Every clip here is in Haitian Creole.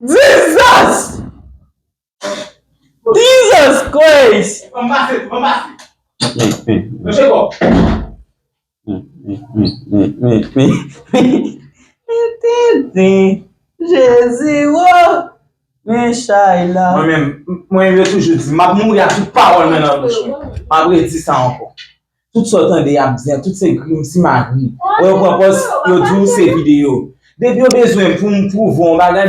Jesus! Jesus Christ! An pase, an pase. An se bon. Jezi woo! Men chay la. Mwen menm, mwen yo toujou di, map mouri ak tout pawol mwen nan bouch mwen. Map redi sa ankor. Tout sa w tande y ap di an tout se grim simagri. Wè yo pran pòz yo di w se videyo. Depi yo bezwen pou m pwouve w yon bagay.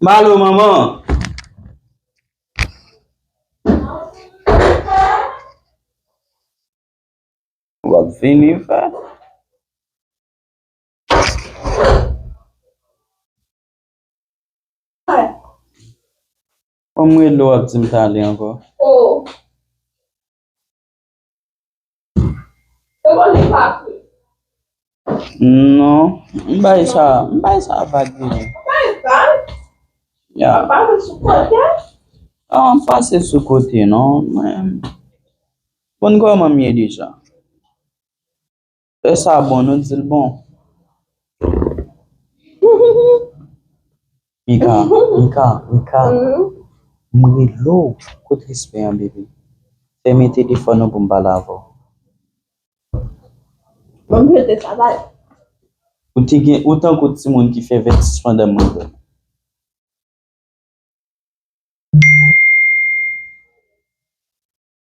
Malo manman an. Wap vini fè. Mwen mwen lo ap di m tale anko. Oh. Non, m bay sa, m bay sa vag vre. Ya. An m pase sou kote non men. Bon kòman m ye deja? Lè sa bon nou dil bon. Mika, Mika, Mika M rele w kot respè an bebe Fè men telefòn ou pou m pale avè w Ou tankou timoun ki fè vètij pandan mwen dòmi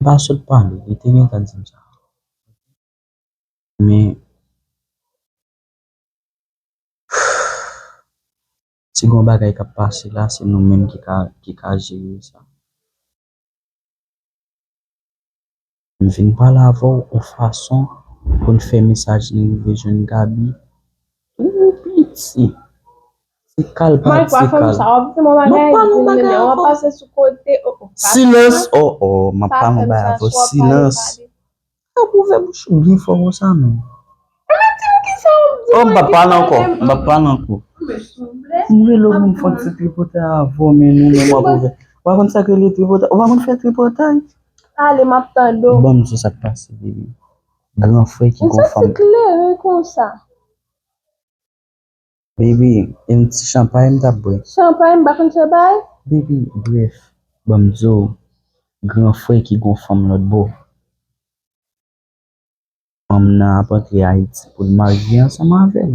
Mpa sòt pale, li te gentan dim sa. Men si gon bagay kap pase la se nou menm ki ka jere sa. M vin pale avèw on fason poun fè mesaj nou rive jwenn Gaby. Ooh piti. Ti kal pa ti kal. Mike pa fè sa wap di mwen bagay. Mwen pa nou bagay avò. Wap pase sou kote. Silans oh oh mwen pa nou bagay avò silans. Ou pa ouvè bouch ou byen fò konsa non. Mwen di ou kisa wap di mwen. Mwen pa pale ankò. Mwen pa pale ankò. Mwen rele ou mwen fon ti tripotay avò men nou menm wap ouvè. Ou pa konn sak rele tripotay. Ou pa konn fè tripotay. Ale map tande ou. Banm di sa k pase baby. Gran frè ki gon fanm. Baby, yon ti chanpay m tap bwè. Baby, bref, ban m di w, gran frè ki gon fanm lòtbò. Fanm nan ap antre Ayiti pou l marye ansanm avè l.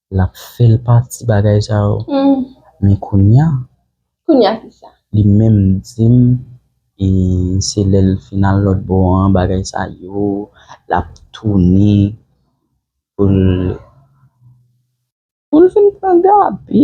Lap fel pa ti bagay sa yo. Men kounya. Kounya ki sa? Li menm dim e se lel fin al lot bo an bagay sa yo lap tounen poul poul fin pran gaby.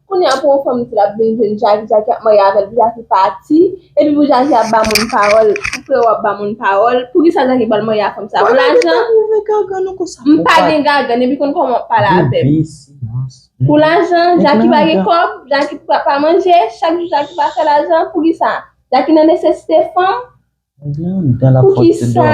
Kounye a pou yon fanm di lap vin jwenn Jaki, Jaki ap marye avèl pou Jaki pati, epi pou Jaki ap ba moun pawòl, pou freo ap ba moun pawòl, poukisa Jaki pral marye ak fanm sa pou lajan, m pa gen gagann epi konn kòman wap pale avèm, pou lajan, Jaki pa gen kòb, Jaki pa manje, chak jou Jaki pa fè lajan, poukisa, Jaki nan nesesite fanm, poukisa.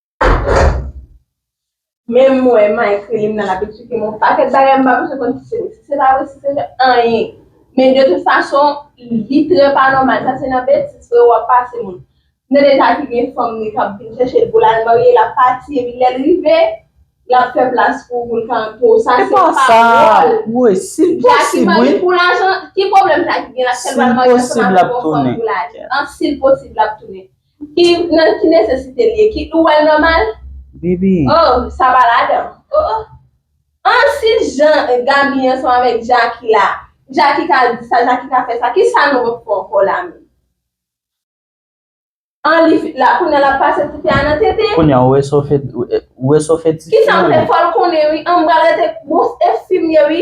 Menm mwen ma ekri li m nan lap esplike m yon pakèt bagay m pa bezwen konn si se vre si se pa vre si se vre anyen men de tout fason li trè pa nòmal sa se nan betiz freo wap pase moun m nan eta ki gen fanm li kap vin chèche l pou l al marye l ap pati epi lèl rive lap fè plas pou ou pou l ka antre w sa se pa wòl jaki marye pou lajan ki pwoblèm jaki gen la sèl pral marye ansanm avèk yon fanm pou lajan an si l posib lap tounen Ki nan ki nesesite li ye ki ou wèl nòmal? Baby. Oh sa pa ladan oh oh. Anh si jan Gaby ansanm avèk Jacky la Jacky ka di sa Jacky ka fè sa kisa nou ap fè ankò la menm. Anh li fi la kounya lap pase tifi a nan tete. Kounya ou wè sa ou fè ou wè sa ou fè tifi an. Kisam fè fòl konnen wi anh m pral rete bon se fim ye wi.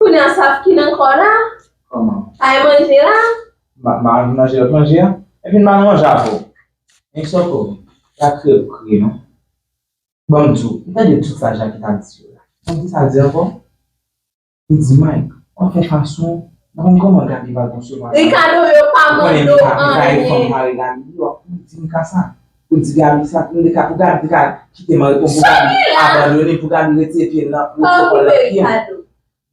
Kounya sa fkin ankò la? Kòman? Sa e manje la? Ma ma vin manje lòt manje a? Epi m pa nan manje avè w. Hein Sòkò, pa kriye pou kriye non. Ban m di w, ou tande tout sa Jaki ta di yo la? Ou tande sa l di ankò? Li di Mike, w ap fè fason, m pa konn kòman Gaby va konsevwa sa. Ricardo yo pa mande w anyen. Ou konnen li pa li pa yon fanm parèy Gaby, li wap di m ka sa. Ou di gaby sa pou mika pou gaby ka kite mari konn pou gaby abandone pou gaby retire pyel nan pwotokòl nan pyel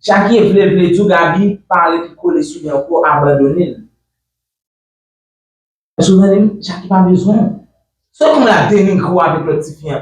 jackie vle vle diw gaby pa rete kole souli ankò abandonel èske ou tande'm jackie pa bezwenw se kounya denigre'w avèk lòt tifi an.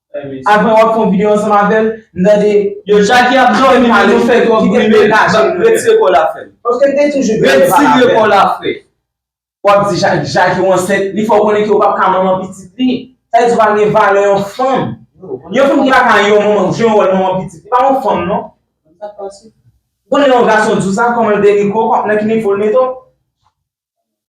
Aprè wap fè yon video ansanm avèl m tande Yo Jacky ap domi men nou fè twòp bri men retire kòw la frèm Retire kòw la frè Wap di Jacky ou ansent li fèw konnen ke ou pap ka manman pitit li Sa vle di ou pa gen valè yon fanm Yon fanm ki pa ka yon manman jwe yon wòl manman pitit li pa yon fanm non Ou konnen lè yon gason diw sa kòman l te ri kòw nan ki nivo l mete w.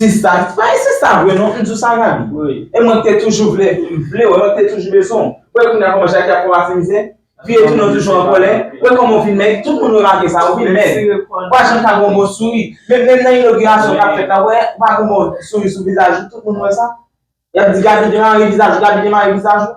Sista, pa gen sista vre non, m di w sa Gaby. E mwen te toujou vle, m vle w, mwen te toujou bezwen w. Wè kounye a kòman Jackie ap kòmanse mizè? Vye tou nou toujou an kòlè. Wè kòman w vin mèg, tout moun remake sa, ou vin mèg. Ou pa janm ka gen yon bon souri. Menm nan inogirasyon k ap fèt la, wè, ou pa gen yon bon souri sou vizaj ou, tout moun wè sa. Y ap di Gaby demare vizaj ou, Gaby demare vizaj ou.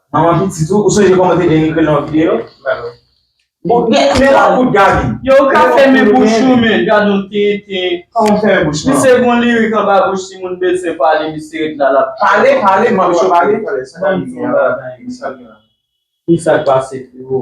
Manman pitit ou, ou sonje kòman ou te denigre l nan yon videyo? Bon, men la kout Gaby. Yo ou ka fèmen bouch ou men, gadon tenten. Kòman m fèmen bouch mwen? Misye gon lirik anba bouch si moun bezwen pale misye ret la lap. Pale, pale, m ap cho pale. Banm ti bagay. Kisak pase freo?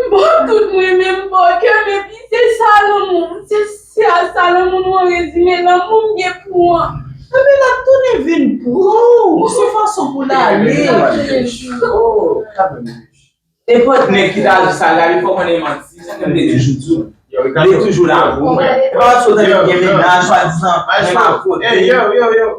M pa tout m renmen m pa kè m epi se sa lanmou m se se a sa lanmou nou an rezime lanmou m gen pou ou an. Epi lap tounen vin pranw se fason pou l ale. Nenpòt nèg ki ta di sa Gaby fò konnen manti se kem te toujou di w li toujou la pou mwen epa wap sot tande m gen mennaj swadizan mwen pa kote l.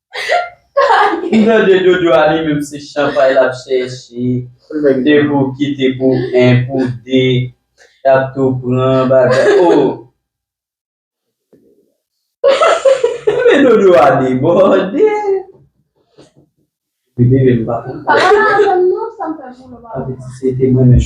M tande dodo a li menm se chanpay lap chèche de pou kite pou 1 pou 2 lap tou pran bagay oh men dodo a debòde m leve m pa konn si se te mwen menm.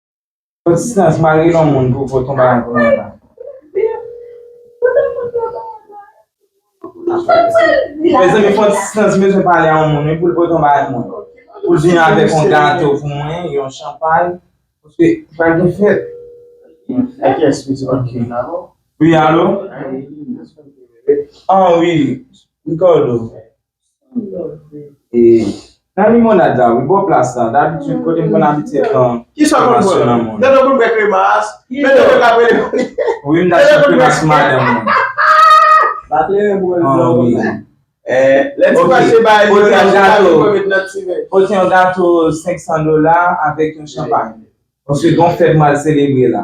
Bon ti sans mal gen yon moun pou fò ton bagay pou mwen la. Mezanmi fò ti sans bezwen pale a yon moun wi pou l pote yon bagay pou mwen. Pou l vini avèk yon gato pou mwen, yon chanpay. Paske pral gen fèt. A ki yès pou di ok. Wi alo? An wi. Ricardo. Nan limonad la wi bò plas la dabitid kote m konn abitye pran kremasyon nan moun. Wi m ta chèf kremas pou madanm mwen. Pote yon gato 500 dola avèk yon chanpay. Paske gen yon fèt m al selebre la.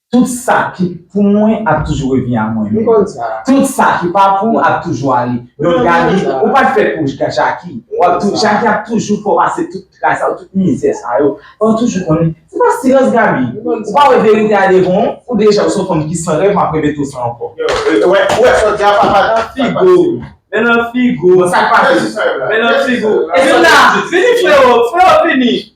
Tout sa ki pou mwen ap toujou revni a mwen menm. Tout sa ki pa pou ou ap toujou ale. Don Gaby, ou pat fèt pou Jacky. Jacky ap toujou fè w pase tout tray sa yo, tout mizè sa yo. Fò w toujou konnen, se pa silans Gaby. Ou pa wè verite a devan w? Ou deja ou se yon fanm ki san rèv, m ap repete w sa ankò. Ou wè sa w di a papa nan figo w. Men nan figo w. Bon sa k pase? Men nan figo w. Vin la, vini freo, freo vini.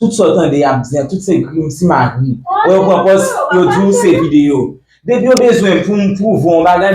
Tout sa w tande y ap di an tout se grim simagri. Wè yo pran pòz yo di w se videyo. Depi yo bezwen pou m pwouve w yon bagay.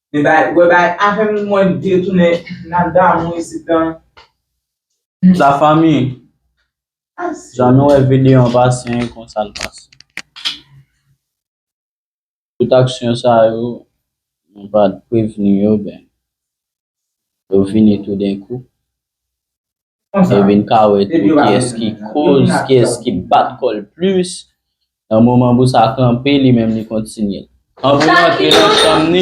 Men bagay wè bagay afè moun mwen detounen nan damou isit lan. La fami, jan nou wè videyo an pase an e konsa l pase. Tout aksyon sa yo, nou pat prevni yo, ben yo vini toudenkou. e vin ka wè tou kiyès ki koz, kiyès ki bat kò l plis. Nan moman pou sa kanpe, li menm li kontinye. An pou l antre nan chanm ni.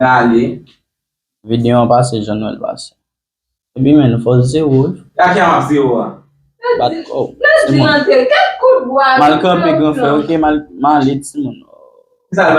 Gade. Video an pase jan nwèl pase. Epi men nou fò zewo. Gade jan map zewo a. Bat kò w. Mal kanpe gran frè ok mal ale timoun.